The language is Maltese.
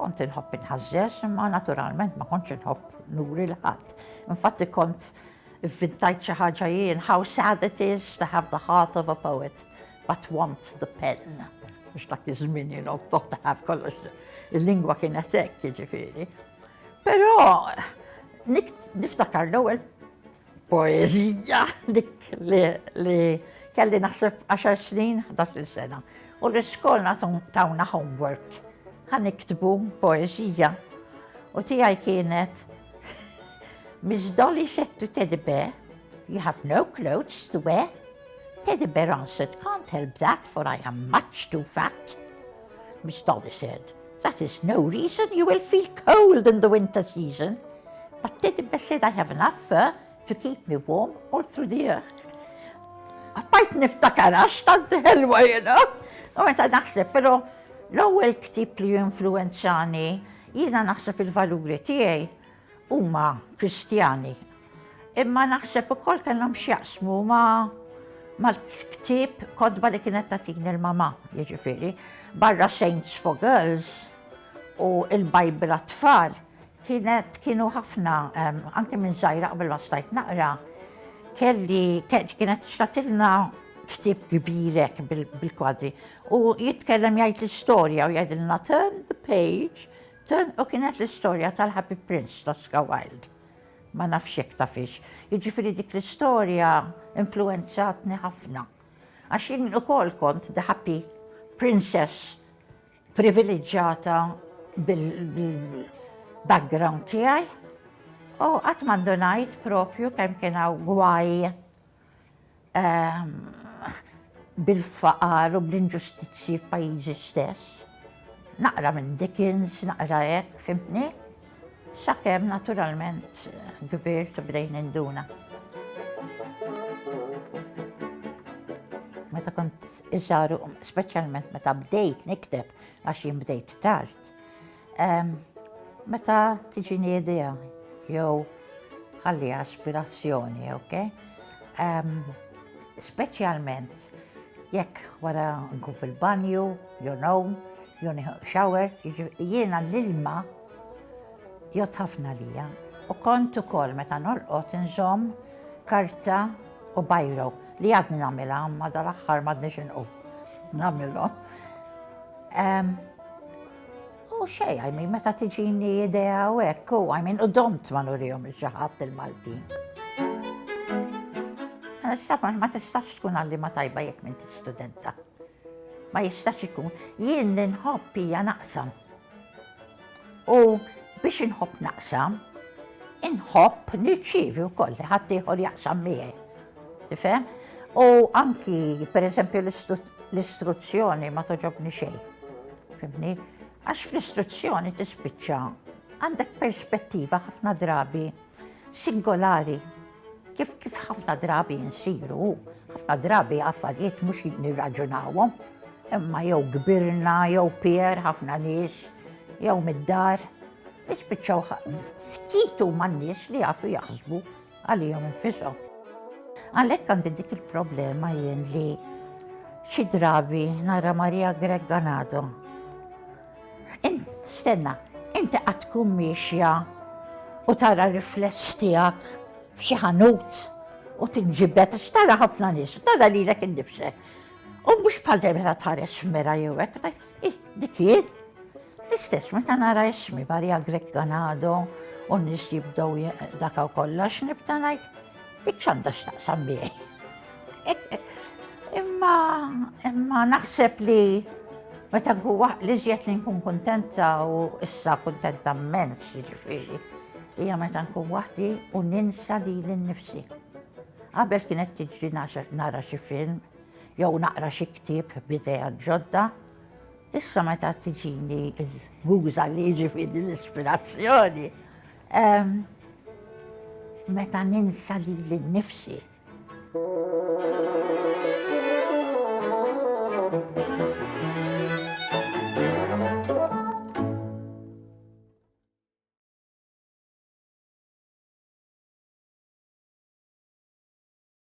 Kont inħobb inħażżeż imma naturalment ma kontx inħobb nuri l-ħadd. Infatti kont vintajt xi ħaġa jien, how sad it is to have the heart of a poet, but want the pen. Biex dak iż-żmien jien qod taħaf kollox. Il-lingwa kienet hekk, jiġifieri. Però niftakar l-ewwel Poezija dik li kelli naħseb 10 snin, 11 sena. U l-iskolna tawna homework. Għan iktbu poezija. U tijaj kienet Miss Dolly said to Teddy Bear, you have no clothes to wear. Teddy Bear answered, can't help that, for I am much too fat. Miss Dolly said, That is no reason, you will feel cold in the winter season. But Teddy Bear said, I have enough fur to keep me warm all through the year. Għabbajt niftakar għax tant ħelwa jena. U meta naħseb, pero l-ewwel ktib li influenzani jiena naħseb il-valuri tiegħi Huma Kristjani, imma naħseb ukoll kellhom x'jaqsmu ma' mal-ktieb kotba li kienet tagħtini l-mamà, jiġifieri, barra Saints for Girls u l-Bible għat-tfal, kienet kienu ħafna anke minn żgħira qabel ma stajt naqra, kelli kienet xtatilna ktieb kbirek bil-kwadri u jitkellem jgħid l-istorja u jgħidilna turn the page Tant u kienet l-istorja tal-Happy Prince t'Oscar Wilde. Ma nafx jekk tafhiex. Jiġifieri dik l-istorja influwenzatni ħafna. Għax jien ukoll kont the happy princess priviliġġata bil-background tiegħi. U qatt ma ndunajt proprju kemm kien hawn gwaj. bil-faqar u bl-inġustizzji f'pajjiżi stess. Naqra minn Dickens, naqra hekk, fimtni? Sakemm naturalment kbirt u bdejn induna. Meta kont iżaru, speċjalment meta bdejt nikteb għax jien bdejt tard, Meta tiġini idea jew ħalli aspirazzjoni, ok? Speċjalment jekk wara nkun fil-banju, jew nawm, jew shower, jiena l-ilma jgħod ħafna lija. U kont ukoll meta norqod inżomm karta u bajro li għadni nagħmilha ma dal-aħħar m'għadniex inqu. Nagħmilhom. U xej, għajmin, meta tiġini idea u hekk, u għajmin, u domt ma nurihom il-ġaħat il-Maltin. Għal-istab, ma tistax tkun għalli ma tajba jek minn studenta. Ma jistax ikun, jien li nħobb hija naqsam. U biex inħobb naqsam, inħobb nirċivi u kolli ħadd ieħor jaqsam miegħi. Tifhem? U anki, per eżempju, l-istruzzjoni ma toġobni xejn. Fimni? Għax fl-istruzzjoni tispiċċa għandek perspettiva ħafna drabi singolari kif kif ħafna drabi nsiru, ħafna drabi affarijiet mhux nirraġunawhom, imma jew kbirna, jew pier ħafna nies, jew mid-dar, nispiċċaw ftit huma nies li jafu jaħsbu għalihom infishom. Għalhekk għandi dik il-problema jien li xi drabi nara Maria Greg Ganado. Stenna, inti qatt tkun miexja u tara rifless tiegħek f'xi ħanut u tinġibet, tara ħafna nies, tara lilek innifsek. U mhux bħal dejjem ta' tħares mera jew hekk, Ih, dik hi. L-istess meta nara ismi Barja Grek Ganado u n-nies jibdew dakaw kollox nibda ngħid dik x'għandha x'taqsam miegħi. Imma imma naħseb li meta huwa li żjed li nkun kuntenta u issa kuntenta mmens jiġifieri hija meta nkun waħdi u ninsa li l-nifsi. Qabel kienet tiġri nara xi film, jew naqra xi ktieb b'idea ġodda, issa meta tiġini l-muża li jiġifieri l-ispirazzjoni, meta ninsa lili nnifsi.